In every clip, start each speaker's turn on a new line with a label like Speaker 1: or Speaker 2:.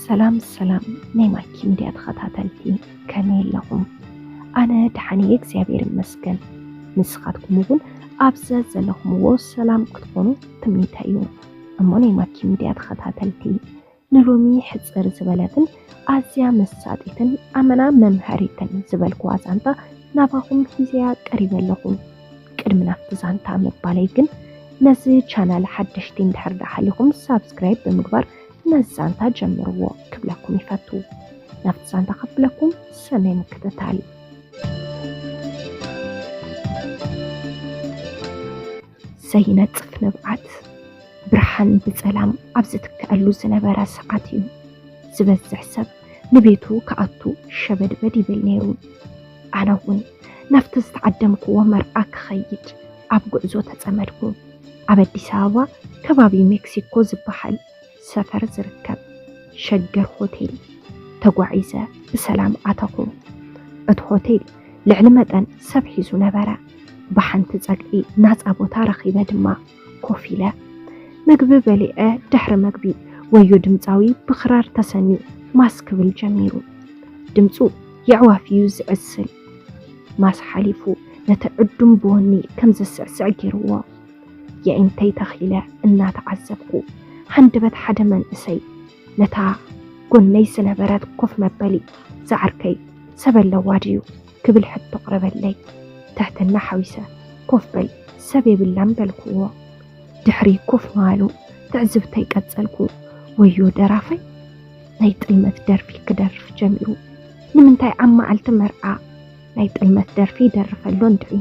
Speaker 1: ሰላም ሰላም ናይ ማኪ ሚድያ ተኸታተልቲ ከመይ ኣለኹም? ኣነ ደሓን እየ እግዚኣብሔር ይመስገን። ንስኻትኩም እውን ኣብ ዘለኹምዎ ሰላም ክትኾኑ ትምኒተይ እዩ። እሞ ናይ ማኪ ሚድያ ተኸታተልቲ ንሎሚ ሕፅር ዝበለትን ኣዝያ መሳጢትን ኣመና መምሃሪትን ዝበልኩዋ ዛንታ ናባኹም ሂዘያ ቀሪበ ኣለኹ። ቅድሚ ናብቲ ዛንታ ምባለይ ግን ነዚ ቻናል ሓደሽቲ እንድሕር ዳሓሊኹም ሳብስክራይብ ብምግባር ነዚ ዛንታ ጀምርዎ ክብለኩም ይፈቱ ናብቲ ዛንታ ከብለኩም ሰናይ ምክትታል ዘይነጽፍ ንብዓት ብርሃን ብጸላም ኣብ ዝትክኣሉ ዝነበረ ሰዓት እዩ ዝበዝሕ ሰብ ንቤቱ ክኣቱ ሸበድበድ ይብል ነይሩ። ኣነ እውን ናብቲ ዝተዓደምክዎ መርዓ ክኸይድ ኣብ ጉዕዞ ተጸመድኩ። ኣብ ኣዲስ ኣበባ ከባቢ ሜክሲኮ ዝበሃል ሰፈር ዝርከብ ሸገር ሆቴል ተጓዒዘ ብሰላም ኣተኹ። እቲ ሆቴል ልዕሊ መጠን ሰብ ሒዙ ነበረ። ብሓንቲ ጸግዒ ናጻ ቦታ ረኺበ ድማ፣ ኮፍ ኢለ ምግቢ በሊዐ ድሕሪ መግቢ ወዮ ድምፃዊ ብክራር ተሰንዩ ማስ ክብል ጀሚሩ። ድምፁ የዕዋፍ እዩ ዝዕስል። ማስ ሓሊፉ ነቲ ዕዱም ብወኒ ከም ዘስዕስዕ ገይርዎ። የዒንተይ ተኺለ እናተዓዘብኩ ሃንደበት ሓደ መንእሰይ ነታ ጎነይ ዝነበረት ኮፍ መበሊ ዝዓርከይ ሰብ ኣለዋ ድዩ? ክብል ሕቶ ኣቕረበለይ። ትሕትና ሓዊሰ፣ ኮፍ በል፣ ሰብ የብላን በልኩዎ። ድሕሪ ኮፍ ምባሉ ትዕዝብተይ ቀጸልኩ። ወዮ ደራፋይ ናይ ጥልመት ደርፊ ክደርፍ ጀሚሩ። ንምንታይ ኣብ መዓልቲ መርዓ ናይ ጥልመት ደርፊ ይደርፍ ኣሎ እንድዒ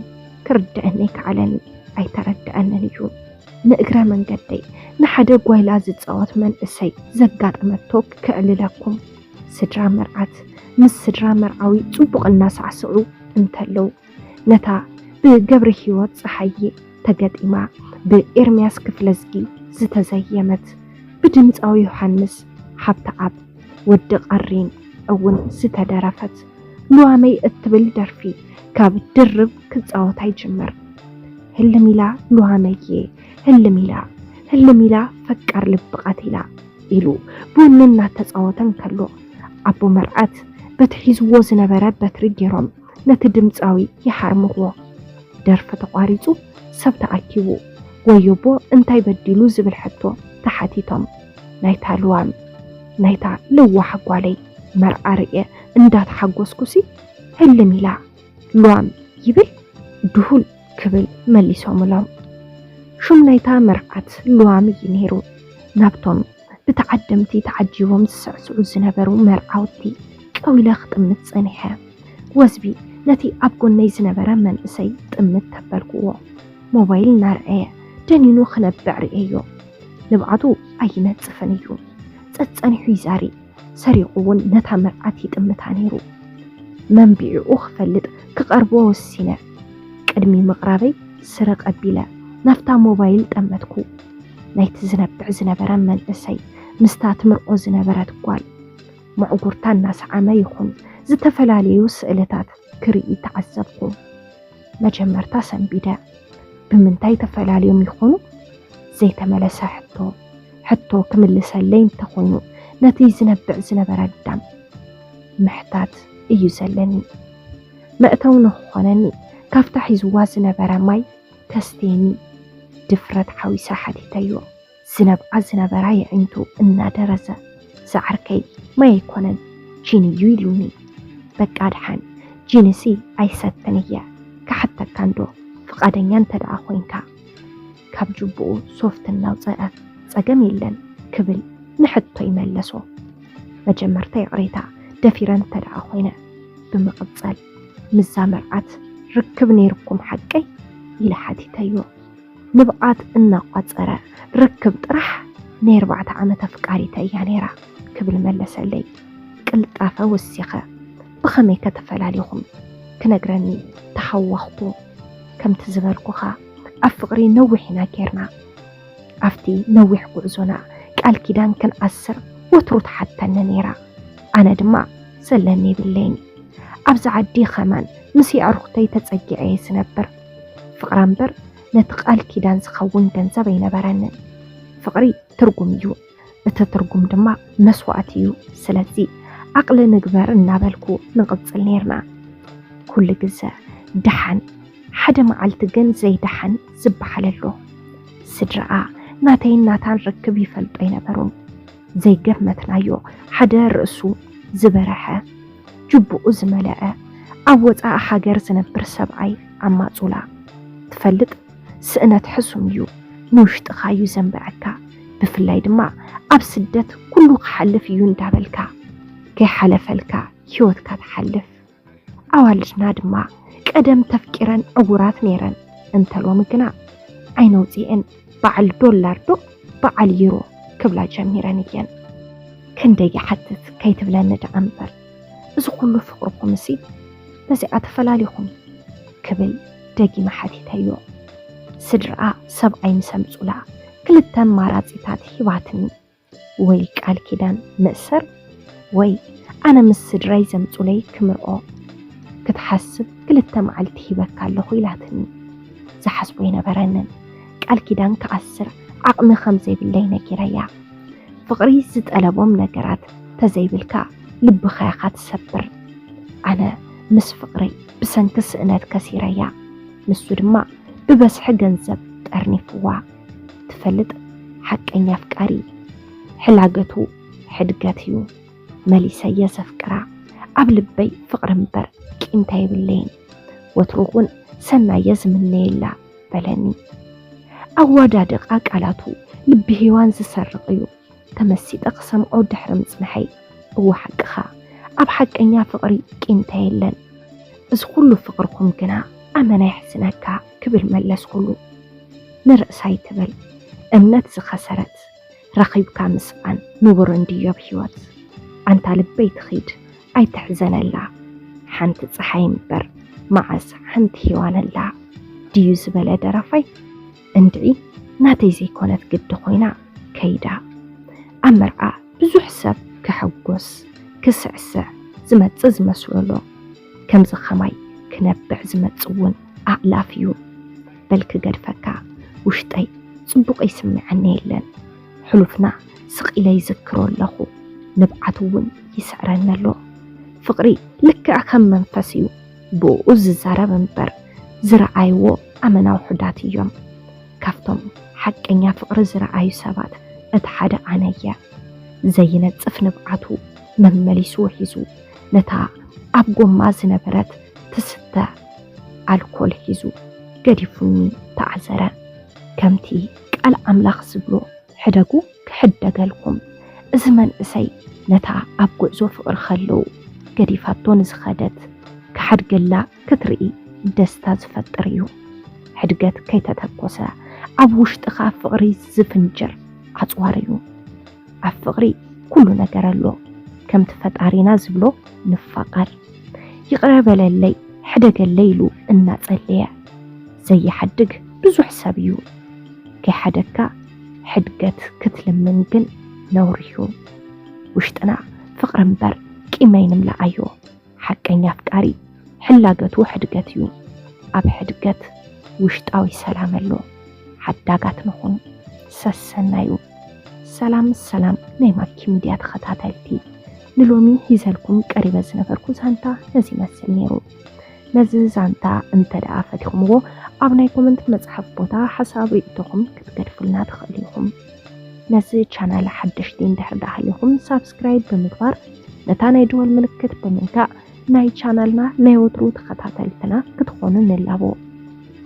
Speaker 1: ክርደአኒ ኣይከኣለን፣ ኣይተረደኣንን እዩ። ንእግረ መንገደይ ንሓደ ጓይላ ዝጻወት መንእሰይ ዘጋጠመቶ ከዕልለኩም። ስድራ መርዓት ምስ ስድራ መርዓዊ ጽቡቕ እናሳዕስዑ እንተለዉ፣ ነታ ብገብረሂወት ጸሃየ ተገጢማ ብኤርምያስ ክፍለዝጊ ዝተዘየመት ብድምጻዊ ዮሃንስ ሃብተኣብ፣ ወዲ ቀሪን፣ እውን ዝተደረፈት ሉዋመይ እትብል ደርፊ ካብ ድርብ ክጻወታ ይጅምር። ህልም ኢላ ሉዋመዬ ህልም ኢላ፣ ህልም ኢላ ፈቃር ልቢ ቀቲላ። ኢሉ ቡን እናተጻወተ እንከሎ፣ ኣቦ መርዓት በቲ ሒዝዎ ዝነበረ በትሪ ገይሮም ነቲ ድምጻዊ ይሃርምዎ። ደርፊ ተቋሪጹ ሰብ ተኣኪቡ ወዮ'ቦ እንታይ በዲሉ ዝብል ሕቶ ተሓቲቶም፣ ናይታ ልዋም፣ ናይታ ለዋህ ጓለይ መርዓ ርእየ እንዳተሓጎስኩሲ ህልም ኢላ፣ ሏም ይብል ድሁል ክብል መሊሶምሎም። ሹም ናይታ መርዓት ሏም እዩ ነይሩ። ናብቶም ብተዓደምቲ ተዓጂቦም ዝስዕስዑ ዝነበሩ መርዓውቲ ቀዊለ ክጥምት ጸኒሐ። ወዝቢ ነቲ ኣብ ጎነይ ዝነበረ መንእሰይ ጥምት ተበልኩዎ። ሞባይል እናርኣየ ደኒኑ ክነብዕ ርእየዮ። ንብዓቱ ኣይነጽፍን እዩ። ጸጸኒሑ ይዛሪ ሰሪቑ እውን ነታ መርዓት ይጥምታ ነይሩ። መንቢዒኡ ክፈልጥ ክቐርቦ ወሲነ። ቅድሚ ምቕራበይ ስረቕ ኣቢለ ናብታ ሞባይል ጠመትኩ። ናይቲ ዝነብዕ ዝነበረ መንእሰይ ምስታ ትምርዖ ዝነበረት ጓል መዕጉርታ እናሰዓመ ይኹን ዝተፈላለዩ ስእልታት ክርኢ ተዓዘብኩ። መጀመርታ ሰንቢደ ብምንታይ ተፈላልዮም ይኾኑ ዘይተመለሰ ሕቶ ሕቶ ክምልሰለይ እንተኾይኑ ነቲ ዝነብዕ ዝነበረ ኣዳም ምሕታት እዩ ዘለኒ መእተው ንክኾነኒ ካብታ ሒዝዋ ዝነበረ ማይ ከስትየኒ ድፍረት ሓዊሰ ሓቲተዮ። ዝነብዓ ዝነበራ የዒንቱ እናደረዘ፣ ዝዓርከይ ማይ ኣይኮነን ጂን እዩ ኢሉኒ። በቃ ድሓን ጂንሲ ኣይሰትን እየ፣ ክሓተካ እንዶ ፍቓደኛ እንተድኣ ኮይንካ? ካብ ጁቡኡ ሶፍት እናውፀኣ፣ ፀገም የለን ክብል ንሕቶይ መለሶ። መጀመርታ ይቕሬታ ደፊረ እንተድኣ ኮይነ። ብምቕፀል ምስዛ መርዓት ርክብ ነይሩኩም ሓቀይ? ኢለ ሓቲተዮ። ንብዓት እናቋፀረ ርክብ ጥራሕ ናይ ኣርባዕተ ዓመት ኣፍቃሪተይ እያ ነይራ ክብል መለሰለይ ቅልጣፈ ወሲኸ ብኸመይከ ተፈላሊኹም ክነግረኒ ተሃወኽኩ ከምቲ ዝበልኩኻ ኣብ ፍቕሪ ነዊሕ ኢና ጌርና ኣብቲ ነዊሕ ጉዕዞና ቃል ኪዳን ክንኣስር ወትሩ ትሓተኒ ነይራ ኣነ ድማ ዘለኒ የብለይን ኣብዚ ዓዲ ኸማን ምስ የዕሩኽተይ ተፀጊዐ እየ ዝነብር ፍቕራ እምበር ነቲ ቃል ኪዳን ዝኸውን ገንዘብ ኣይነበረንን። ፍቕሪ ትርጉም እዩ፣ እቲ ትርጉም ድማ መስዋእቲ እዩ። ስለዚ ዓቕሊ ንግበር እናበልኩ ንቕጽል ነይርና። ኩሉ ግዘ ደሓን፣ ሓደ መዓልቲ ግን ዘይደሓን ዝበሃል ኣሎ። ስድራኣ ናተይን ናታን ርክብ ይፈልጡ ኣይነበሩን። ዘይገመትናዮ ሓደ ርእሱ ዝበረሐ ጅቡኡ ዝመለዐ ኣብ ወፃኢ ሃገር ዝነብር ሰብኣይ ኣብ ማፁላ ትፈልጥ ስእነት ሕሱም እዩ ንውሽጥኻ እዩ ዘንበዐካ ብፍላይ ድማ ኣብ ስደት ኩሉ ክሓልፍ እዩ እንዳበልካ ከይሓለፈልካ ሂወትካ ትሓልፍ። ኣዋልድና ድማ ቀደም ተፍቂረን ዕውራት ነይረን እንተ ሎሚ ግና ዓይነ ውጺኤን በዓል ዶላር ዶ በዓል ዩሮ ክብላ ጀሚረን እየን። ክንደይ ይሓትት ከይትብለኒ ደኣ እምበር እዚ ኩሉ ፍቅርኩምሲ በዚኣ ተፈላሊኹም ክብል ደጊመ ሓቲተዮ። ስድርኣ ሰብኣይ ምስ ኣምጹላ ክልተ ኣማራጺታት ሂባትኒ። ወይ ቃል ኪዳን ምእሰር ወይ ኣነ ምስ ስድራይ ዘምጹለይ ክምርዖ ክትሓስብ ክልተ መዓልቲ ሂበካ ኣለኹ ኢላትኒ። ዝሓስቦ ኣይነበረንን። ቃል ኪዳን ክኣስር ዓቕሚ ከም ዘይብለይ ነጊረያ። ፍቕሪ ዝጠለቦም ነገራት ተዘይብልካ ልብኻ ኢኻ ትሰብር። ኣነ ምስ ፍቕረይ ብሰንኪ ስእነት ከሲረያ። ንሱ ድማ ብበዝሒ ገንዘብ ጠርኒፍዋ። ትፈልጥ ሓቀኛ ኣፍቃሪ ሕላገቱ ሕድገት እዩ መሊሰ የዘፍቅራ ኣብ ልበይ ፍቕሪ እምበር ቂምታ የብለይን ወትሩ እውን ሰናየ ዝምነየላ በለኒ ኣዋዳድቓ ቃላቱ ልቢ ሄዋን ዝሰርቕ እዩ ተመሲጠ ክሰምዖ ድሕሪ ምጽንሐይ እወ ሓቅኻ ኣብ ሓቀኛ ፍቕሪ ቂምታ የለን እዚ ኩሉ ፍቕርኩም ግና ኣመና የሕዝነካ ክብል መለስኩሉ ንርእሳ ኣይትበል እምነት ዝኸሰረት ረኺብካ ምስኣን ንቡር እንድዩ ኣብ ሂወት ኣንታ ልበይ ትኺድ ኣይትሕዘነላ ሓንቲ ጸሓይ እምበር መዓስ ሓንቲ ሄዋን ኣላ ድዩ ዝበለ ደራፋይ እንድዒ ናተይ ዘይኮነት ግዲ ኮይና ከይዳ። ኣብ መርዓ ብዙሕ ሰብ ክሕጎስ ክስዕስዕ ዝመጽእ ዝመስሎሎ ከምዚ ከማይ ክነብዕ ዝመጽእ ውን ኣእላፍ እዩ። በል ክገድፈካ ውሽጠይ ጽቡቕ ይስምዓኒ የለን ሕሉፍና ስቕ ኢለ ይዝክሮ ኣለኹ ንብዓት ውን ይስዕረኒ ኣሎ ፍቕሪ ልክዕ ከም መንፈስ እዩ። ብእኡ ዝዛረብ እምበር ዝረኣይዎ ኣመና ውሑዳት እዮም። ካብቶም ሓቀኛ ፍቕሪ ዝረኣዩ ሰባት እቲ ሓደ ኣነ እየ። ዘይነጽፍ ንብዓቱ መመሊሱ ውሒዙ፣ ነታ ኣብ ጎማ ዝነበረት ትስተ ኣልኮል ሒዙ ገዲፉኒ ተዓዘረ። ከምቲ ቃል ኣምላኽ ዝብሎ፣ ሕደጉ ክሕደገልኩም እዚ መንእሰይ ነታ ኣብ ጉዕዞ ፍቅሪ ከሎ ገዲፋቶ ንዝኸደት ክሓድገላ ክትርኢ ደስታ ዝፈጥር እዩ ሕድገት ከይተተኮሰ ኣብ ውሽጥኻ ፍቅሪ ዝፍንጅር ኣጽዋር እዩ ኣብ ፍቅሪ ኩሉ ነገር ኣሎ ከምቲ ፈጣሪና ዝብሎ ንፋቀር ይቅረ በለለይ ሕደገለይ ኢሉ እናጸለየ ዘይሓድግ ብዙሕ ሰብ እዩ ከይሓደግካ ሕድገት ክትልምን ግን ነውሪ'ዩ። ውሽጥና ፍቕሪ እምበር ቂም ኣይንምላኣዮ። ሓቀኛ ኣፍቃሪ ሕላገቱ ሕድገት'ዩ። ኣብ ሕድገት ውሽጣዊ ሰላም ኣሎ። ሓዳጋት ንኹን። ሰሰናዩ ሰላም ሰላም ናይ ማኪ ሚድያ ተኸታተልቲ ንሎሚ ሂዘልኩም ቀሪበ ዝነበርኩ ዛንታ ነዚ ይመስል ነይሩ። ነዚ ዛንታ እንተ ደኣ ፈቲኹምዎ ኣብ ናይ ኮመንት መጽሓፍ ቦታ ሓሳብ ርእይቶኹም ክትገድፉልና ትኽእሉ ኢኹም። ነዚ ቻናል ሓደሽቲ እንድሕር ደኣ ሃሊኹም ሳብስክራይብ ብምግባር ነታ ናይ ደወል ምልክት ብምንካእ ናይ ቻናልና ናይ ወትሩ ተኸታተልትና ክትኾኑ ንላቦ።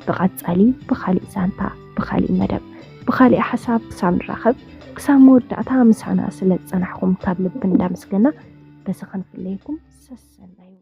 Speaker 1: ብቐጻሊ ብኻሊእ ዛንታ፣ ብኻሊእ መደብ፣ ብኻሊእ ሓሳብ ክሳብ ንራኸብ ክሳብ መወዳእታ ምሳና ስለ ዝጸናሕኩም ካብ ልቢ እንዳመስገና በዚ ክንፍለየኩም ሰሰናዩ።